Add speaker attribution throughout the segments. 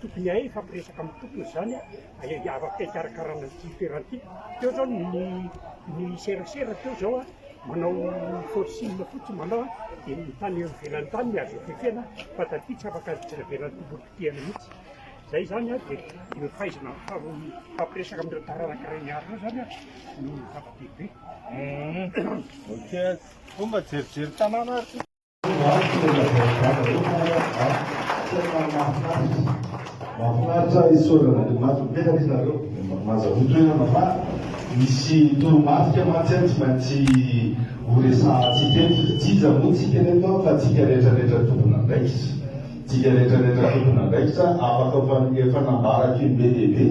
Speaker 1: Tokony hahay hifampiresaka amin'ny tompony izany a, afaka hikarakarana ity toerana ity. Teo izao ny ny serasera teo izao a, manao forcing fotsiny manao a, dia ny tany eo ivelany tany no azo ifefena fa taty tsy afaka azo jereveran'ny tompony potehana mihitsy. Izay izany a, dia ny fahaizana mifampiresaka amin'ireo taranaka reniala ireo izany a no zava-dehibe. Hum,
Speaker 2: ok, koa mba jerijery tanàna ary ity.
Speaker 3: Mahafinaritra isaorana Andriamanitra mipetraka ianareo. Mazahoa toerana fa misy toromarika mantsy tsy maintsy horesahantsika eto. Tsy iza moa isika ireto fa isika rehetrarehetra tompon'andraikitra. Isika rehetrarehetra tompon'andraikitra afaka efa nambarako indroa be dia be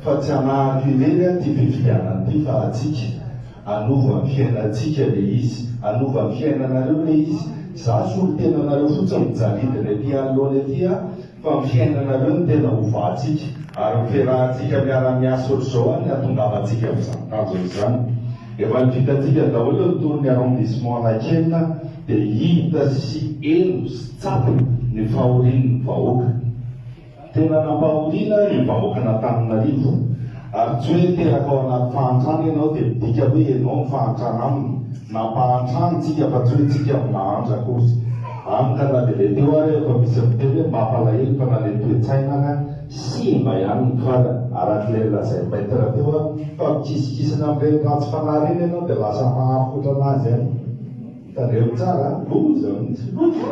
Speaker 3: fa tsy hanahako indray ity fifidianana ity fa antsika. Hanova ny fiainantsika le izy, hanova ny fiainanareo le izy, za solotena anareo fotsiny mijaridina ety anoloana ety a, fa ny fiainanareo no tena hovahantsika, ary ny fiarahantsika miara-miasa otrzao any no hatongavantsika amin'izany tanjona izany. Efa nivitantsika daholo ny tour ny arrondissement Anankena dia hita sy heno sy tsapa ny fahorian'ny vahoaka. Tena nampahoriana ny vahoakan'Antananarivo ary tsy hoe teraka ao anaty fahantrana ianao dia midika hoe ianao no fahantrana aminy, nampahantrany tsika fa tsy hoe tsika no nahantra akory. Hany ka na dia le teo ary aho efa misy miteny hoe mampalahelo fa na le toe-tsaina ary an. Simba ihany ny kala, arak'ilay nolazain'i Maître teo an, fa mikisikisina amin'ireny ratsy fanahy ireny ianao dia lasa mahafotra anazy any. Tadreo tsara a! Loza mihitsy! Loza!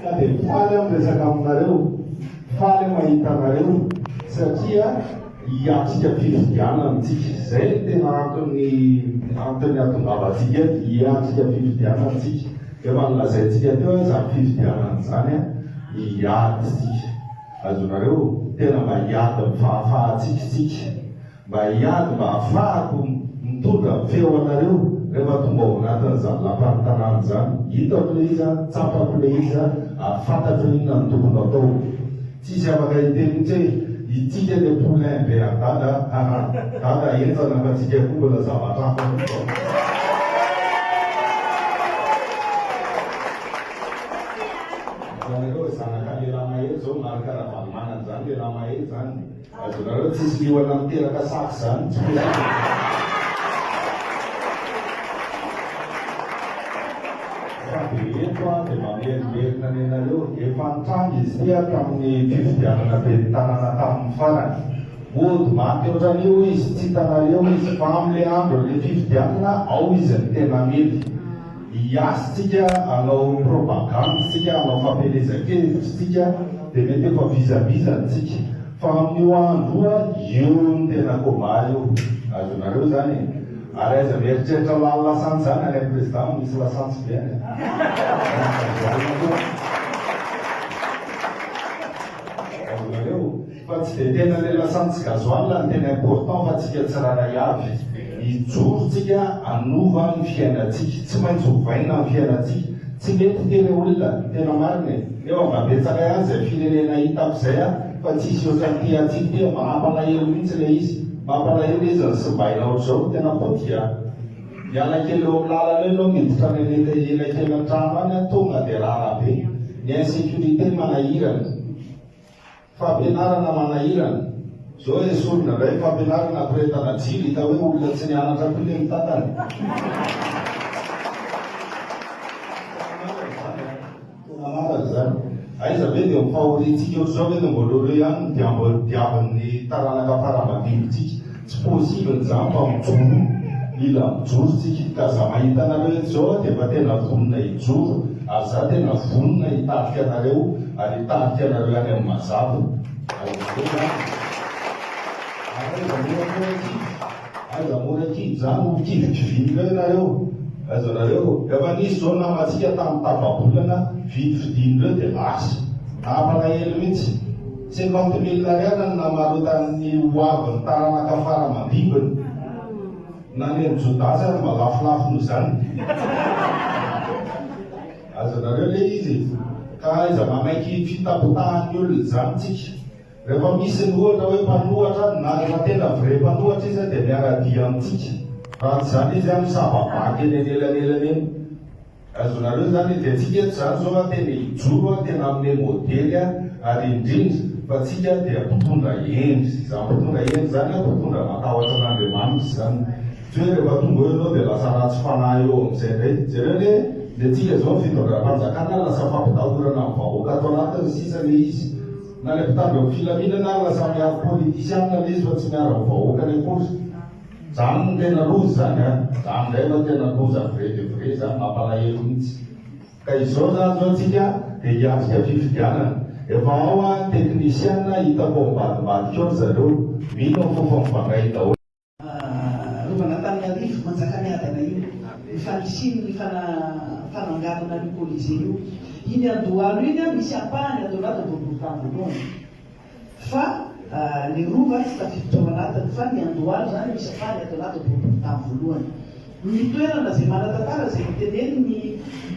Speaker 3: Ka dia faly aho miresaka aminareo, faly aho mahita anareo satria hiatrika fifidianana isika. Izay no tena antony antony hahatongavantsika eto, hiatrika fifidianana isika. Efa nolazaintsika teo hoe izany fifidianana izany hiady isika. Azonareo? Tena mba hiady amin'ny fahafahantsika isika. Mba hiady mba hafahako mitondra feo anareo rehefa tonga ao anatin zany lapan tanana zany hitako le izy an tsapako le izy an ary fantatro inona no tokony atao tsisy afaka hiteny mintsy hoe itsika le poulain be an dada haha dada henjana fa tsika koa mbola zavatra hafa mintsy vao Hitanareo zanaka lelah mahery zao Marc Ravalomanana zany lelah mahery zany. Azonareo tsisy liona miteraka saka izany tsy Fa dia eto aho dia mamerimberina ny anareo, efa nitranga izy ity aho tamin'ny fifidianana ben'ny tanàna tamin'ny farany. Mody maty ohatran'io izy, tsy hitanareo izy, fa amin'ilay andron'ilay fifidianana ao izy no tena mety. Hiazo tsika hanao propagandy tsika hanao fampielezan-kevitry tsika dia mety efa vizavizan tsika fa amin io andro io an io no tena combat io azonareo zany e ary aiza mieritreritra lany lasantsy zany any am president no misy lasantsy be any an azonareo. Fa tsy dia tena le lasantsy gasoil no tena important fa tsika tsirairay avy hijoro tsika hanova ny fiainantsika tsy maintsy hovaina ny fiainantsika tsy mety ty le olona tena marina e nefa mba betsaka ihany zay firenena hitako zay a fa tsisy otrany ty antsika ty mampalahelo mintsy le izy mampalahelo izy ny simbaina otrzao tena potika miala kely eo aminy lalana eo enao miditra any aneta elakelan-trano any a tonga dia rara be ny insecurite manahirana Fampianarana manahirana. Zao e sorona ndray fampianarana ampirehetana jiro hita hoe olona tsy nianatra koa le mitantana. Tena marina izany. Aiza ve dia ho fahoriantsika ohatr'izao ve no mbola ho eo ihany ny diambo diavin'ny taranaka fara madinontsika. Tsy possible nizany fa mijoro Mila mijoro tsika ka za mahita anareo eto zao aho dia efa tena vonona hijoro ary za tena vonona hitarika anareo ary hitarika anareo any amin'ny mazava ary izay zany ary aiza mora mora kivy aiza mora kivy za no ho kivy kivin'ireo ianareo aiza nareo efa nisy zao namantsika tamin'ny tapa-bolana vidy fidin'ireo dia lasa nampalahelo mihitsy Cinquante mille ariary no namarotan'ny ho avin'ny taranaka fara aman-dimbiny. Na ny an'i Jodà aza mba lafolafo noho izany. Azonareo ilay izy e! Ka aiza manaiky fitapotahan'ny olona izany tsika? Rehefa misy ny ohatra hoe mpanohatra, na rehefa tena vrai mpanohatra izy dia miara-dia amintsika. Raha tsy izany izy misava-baky eny anelanelan'eny. Azonareo izany edy antsika eto izany izao a tena hijoro a tena hanome modely a ary indrindra fa tsika dia mpitondra hendry izany mpitondra hendry izany a mpitondra matahotra an'Andriamanitra izany tsy hoe rehefa tonga eo ianao dia lasa ratsy fanahy eo amin'izay indray jereo anie ny antsika izao ny fitondram-panjakana lasa fampitahorana ny vahoaka ato anatiny ny sisa ilay izy na ilay mpitandro ny filaminana ary lasa miaro politisianina ilay izy fa tsy miaro ny vahoakany akory Zany no tena loza zany a! Zany ndray no tena loza vrai de vrai zany, mampalahelo mihitsy. Ka izao zany zao tsika dia hiatrika fifidianana. Efa ao an teknisiana hitako ao ambadimbadika ao ry zareo. Mino aho fofa mivangay daholo. Rova an'Antananarivo,
Speaker 4: Manjakamiadana io, ny fanisiany ny fana fananganana an'io colisée io. Iny Andohalo iny an, misy ampahany ato anaty boriborintany voalohany. Fa ny Rova tsy tafiditra tao anatiny fa ny Andohalo izany no isafary ato anaty boribory tany voalohany. Ny toerana izay manan-tantara izay notenenin'i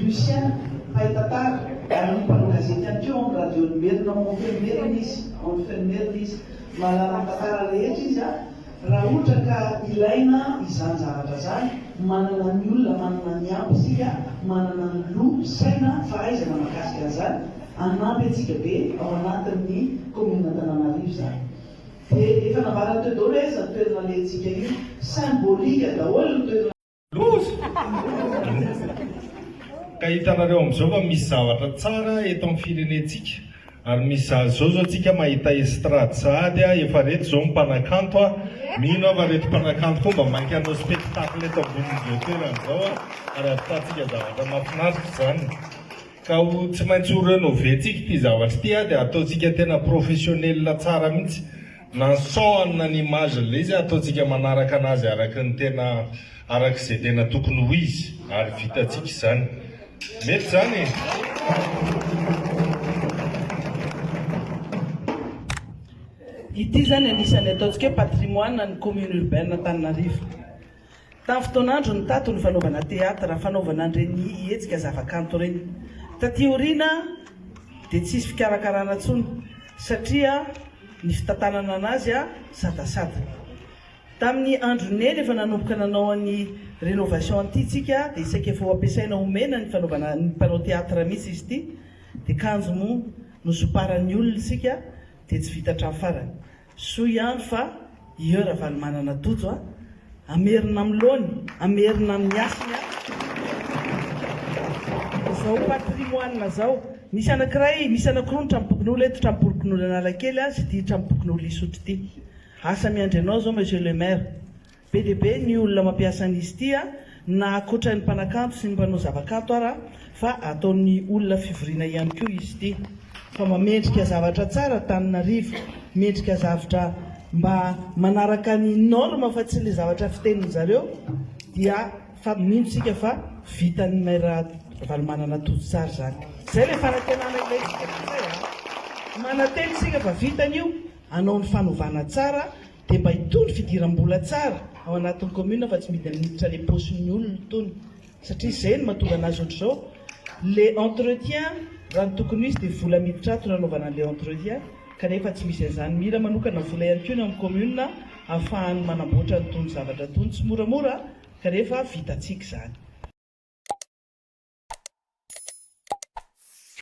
Speaker 4: Lucien mpahay tantara. Ary ny mpanao gazety ihany koa ao amin'ny Radion'i Merina ao Monfermerina izy, Monfermerina izy. Mahalala ny tantara rehetra izy Raha ohatra ka ilaina izany zavatra izany, manana ny olona manana ny ampy isika, manana ny loha, saina, fahaizana mahakasika an'izany, hanampy antsika be ao anatin'ny Kaominina Antananarivo izany. Dia efa nambarany teo daholo hoe aiza ny toerana alehantsika io, symbolique daholo ny toerana.
Speaker 2: Loza! Ka hitanareo amin'izao fa misy zavatra tsara eto amin'ny firenentsika ary misy za zao zao tsika mahita estrade sahady a efa reto zao mpanakanto a mino aho fa reto mpanakanto koa mba mainka hanao spectacle eto ambonin'izao toerana zao a ary avitantsika zavatra mahafinaritra izany ka ho tsy maintsy ho renover-tsika ity zavatra ity a dia ataontsika tena professionnel tsara mihitsy Nansohana ny image le izy ataontsika manaraka anazy araka ny tena araka izay tena tokony ho izy ary vitantsika izany. Mety izany e.
Speaker 4: Ity izany anisany ataontsika hoe patrimoine an'ny commune urbaine Antananarivo. Tamin'ny fotoan'androny tato ny fanaovana teatra, fanaovana an'ireny hetsika zavakanto ireny. Taty aoriana dia tsisy fikarakarana intsony satria ny fitantanana an'azy sadasada. Tamin'ny andron'i Neny efa nanomboka nanao an'i rénovation an'ity tsika dia saika efa ho ampiasaina omena ny fanaovana ny mpanao teatra mihitsy izy ity dia kanjo moa nosomparan'ny olona isika dia tsy vita hatramin'ny farany. Soa ihany fa ieo Ravalomanana Tojo a! Hamerina amin'ny laoniny, hamerina amin'ny hasiny a! Izao patrimoine zao, misy anankiray, misy anankiroa ny Tranompokonolona eto, Tranompokonolon'Analakely sy ity Tranompokonolon'Isotry ity. Asa miandry anao zao Monsieur le Maire. Be dia be ny olona mampiasa an'izy ity na akoatra ny mpanakanto sy ny mpanao zavakanto ara fa ataon'ny olona fivoriana ihany koa izy ity fa mamendrika zavatra tsara Tananarivo mendrika zavtra mba manaraka ny norme fa tsy le zavatra fitenin zareo dia fa mino tsika fa vitan'ny Maire Ravalomanana Tojo tsara zany zay le fanantenana ilaintsika mananteny tsika fa vitany io hanao ny fanovana tsara Dia mba hitondro fidiram-bola tsara ao anatin'ny commune fa tsy midy miditra le paosin'ny olona itony satria izay no mahatonga anazy ohatr'izao le entretien raha ny tokony ho izy dia vola miditra ato no anaovana an'ilay entretien kanefa tsy misy an'izany mila manokana vola ihany koa ny ao amin'ny commune ahafahany manamboatra an'itony zavatra itony tsy moramora kanefa vitantsika izany.